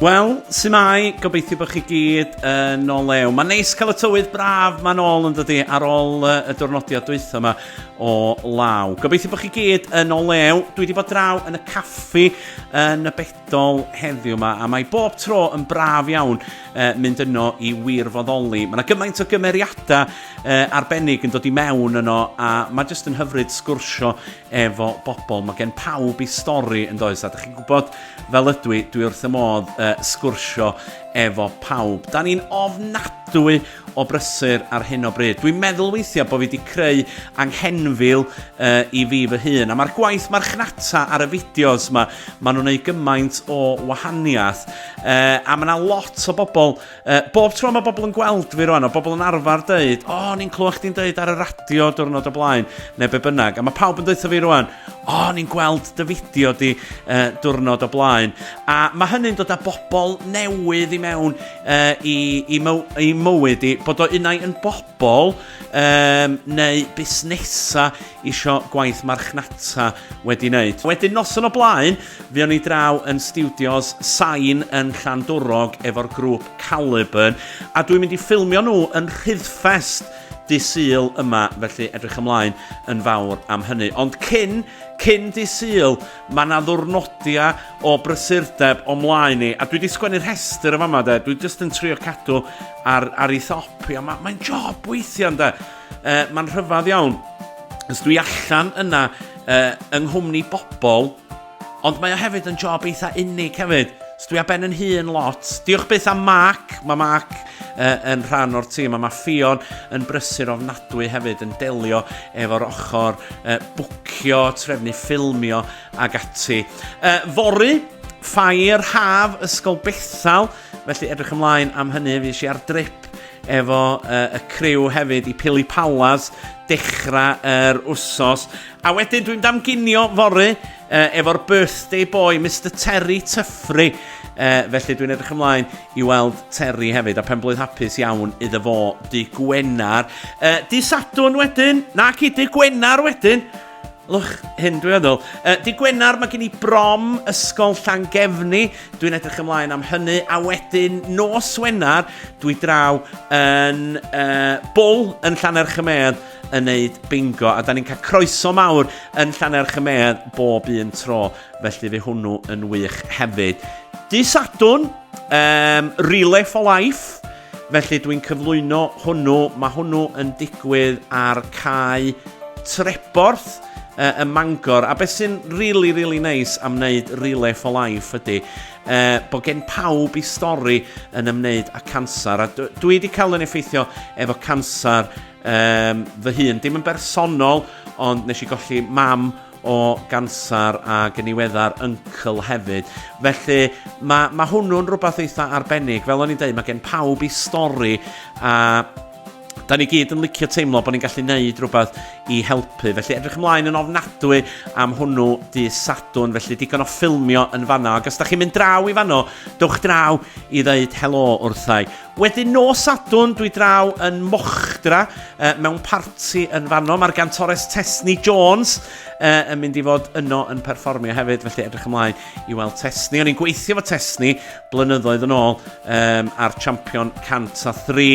Wel, sy'n mai, gobeithio bod chi gyd yn ôl lew. Mae'n neis cael y tywydd braf mae'n ôl yn dydy ar ôl uh, y diwrnodiad dwytho yma o law. Gobeithio bod chi gyd yn ôl lew. Dwi wedi bod draw yn y caffi yn y dol heddiw yma, a mae bob tro yn braf iawn uh, mynd yno i wirfoddoli. Mae yna gymaint o gymeriadau uh, arbennig yn dod i mewn yno, a mae jyst yn hyfryd sgwrsio efo bobl. Mae gen pawb i stori yn does, a da chi'n gwybod fel ydw i, dwi wrth y modd uh, sgwrsio efo pawb. Da ni'n ofnadwy o brysur ar hyn o bryd. Dwi'n meddwl weithiau bod fi wedi creu anghenfil uh, i fi fy hun. A mae'r gwaith marchnata ar y fideos yma, maen nhw'n ei gymaint o wahaniaeth. Uh, a mae yna lot o bobl, uh, bob tro mae bobl yn gweld fi rwan, o bobl yn arfer dweud, o, oh, ni'n clywed chdi'n dweud ar y radio diwrnod o blaen, neu be bynnag. A mae pawb yn dweud fi rwan, o, oh, ni'n gweld dy fideo di uh, diwrnod o blaen. A mae hynny'n dod â bobl newydd i mewn uh, i, i, myw, i mywyd i, bod o unai yn bobl um, neu busnesau isio gwaith marchnata wedi wneud. Wedyn noson o blaen, fi o'n i draw yn studios Sain yn Llandwrog efo'r grŵp Caliburn, a dwi'n mynd i ffilmio nhw yn Rhyddfest dy syl yma, felly edrych ymlaen yn fawr am hynny. Ond cyn, cyn dy syl, Mae 'na ddwrnodiau o brysurdeb o mlaen i, a dwi wedi sgwennu rhestr yn fama de, dwi jyst yn trio cadw ar, ar ei thop i, a mae'n mae job weithiau de, e, mae'n rhyfedd iawn. Ys dwi allan yna e, yng nghwmni bobl, ond mae o hefyd yn job eitha unig hefyd. Ys dwi a ben yn hun lot. Diolch byth am Mark, mae Mark uh, yn rhan o'r tîm, a mae Ffion yn brysur ofnadwy hefyd yn delio efo'r ochr uh, bwcio, trefnu ffilmio ag ati. Uh, fory, ffair haf ysgol Bethel, felly edrych ymlaen am hynny, fi eisiau ar drip efo uh, y criw hefyd i Pili Palas dechrau yr er wsos. A wedyn dwi'n damginio fory uh, efo'r birthday boy, Mr Terry Tyffri, Uh, felly dwi'n edrych ymlaen I weld Terry hefyd, a penblwydd hapus iawn iddo fo dy Gwenar. Uh, di Sadwn wedyn, na ci, dy Gwenar wedyn. Lwch hyn dwi'n meddwl. Uh, di Gwenar, mae gen i brom ysgol Llangefni. Dwi'n edrych ymlaen am hynny. A wedyn, nos Wenar, dwi draw yn uh, bwl yn Llaner Chymedd yn neud bingo a da ni'n cael croeso mawr yn Llaner Chymedd bob un tro. Felly fe hwnnw yn wych hefyd. Dy Sadwn, um, Relay for Life. Felly dwi'n cyflwyno hwnnw. Mae hwnnw yn digwydd ar cae Treborth uh, ym Mangor. A beth sy'n really, really nice am wneud Relay for Life ydy uh, bod gen pawb i stori yn ymwneud â cancer. A dwi wedi cael yn effeithio efo cancer um, fy hun. Dim yn bersonol, ond nes i golli mam o ganser ag yn iweddar uncle hefyd. Felly mae, mae hwnnw'n rhywbeth eitha arbennig. Fel o'n i'n dweud, mae gen pawb i stori a da ni gyd yn licio teimlo bod ni'n gallu neud rhywbeth i helpu. Felly edrych ymlaen yn ofnadwy am hwnnw dy sadwn, felly digon o ffilmio yn fanno. Ac os da chi'n mynd draw i fanno, dewch draw i ddeud helo wrthau. Wedyn nos Sadwrn dwi draw yn Mochdra uh, mewn parti yn fanno. Mae'r gantores Tesni Jones uh, yn mynd i fod yno yn perfformio hefyd, felly edrych ymlaen i weld Tesni. O'n i'n gweithio fo Tesni blynyddoedd yn ôl um, ar Champion 103.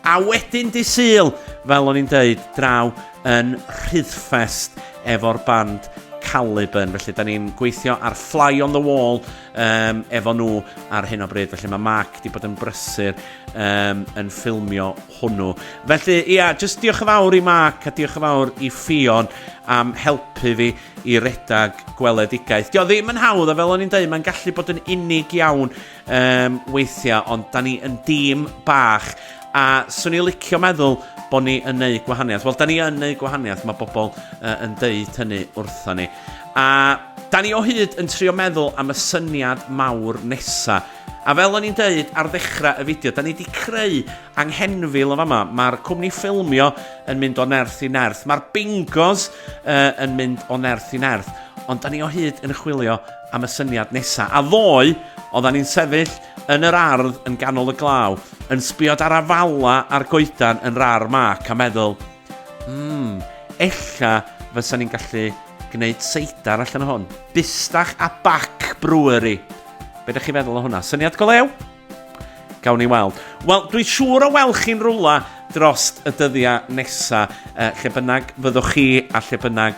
A wedyn di syl, fel o'n i'n deud, draw yn Rhyddfest efo'r band Caliban. Felly, da ni'n gweithio ar Fly on the Wall um, efo nhw ar hyn o bryd. Felly mae Mark wedi bod yn brysur um, yn ffilmio hwnnw. Felly, ia, yeah, just diolch yn fawr i Mark a diolch yn fawr i Ffion am helpu fi i redag gweledigaeth. Dio ddim yn hawdd, a fel o'n i'n dweud, mae'n gallu bod yn unig iawn um, weithiau, ond da ni yn dîm bach a swn i'n licio meddwl bod ni yn neud gwahaniaeth. Wel, da ni yn neud gwahaniaeth, mae bobl uh, yn deud hynny wrtho ni. A da ni o hyd yn trio meddwl am y syniad mawr nesa. A fel o'n i'n deud ar ddechrau y fideo, da ni wedi creu anghenfil yn fama. Mae'r cwmni ffilmio yn mynd o nerth i nerth. Mae'r bingos uh, yn mynd o nerth i nerth. Ond da ni o hyd yn chwilio am y syniad nesa. A ddoe, oeddan ni'n sefyll yn yr ardd yn ganol y glaw, yn sbiod ar afala a'r goedan yn rar mac a meddwl, Mmm, ella fysa ni'n gallu gwneud seidar allan o hwn. Bustach a Bac Brewery. Be ydych chi'n feddwl o hwnna? Syniad go lew? Gawn ni weld. Wel, dwi'n siŵr o weld chi'n rwla drost y dyddiau nesa, uh, lle bynnag fyddwch chi a lle bynnag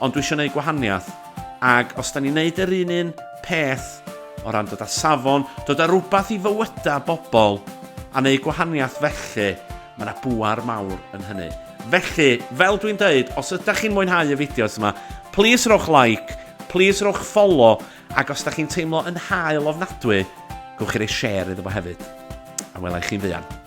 Ond dwi isio neud gwahaniath. Ag os da ni'n neud yr un un peth o ran dod a safon, dod a rwbath i fywyda bobl a neud gwahaniath felly, ma na bwar mawr yn hynny. Felly, fel dwi'n deud, os ydach chi'n mwynhau y fideos yma, plîs rowch like, plîs rowch folo, ag os da chi'n teimlo yn hael ofnadwy, gowch chi roi share iddo fo hefyd. A wela i chi'n fuan.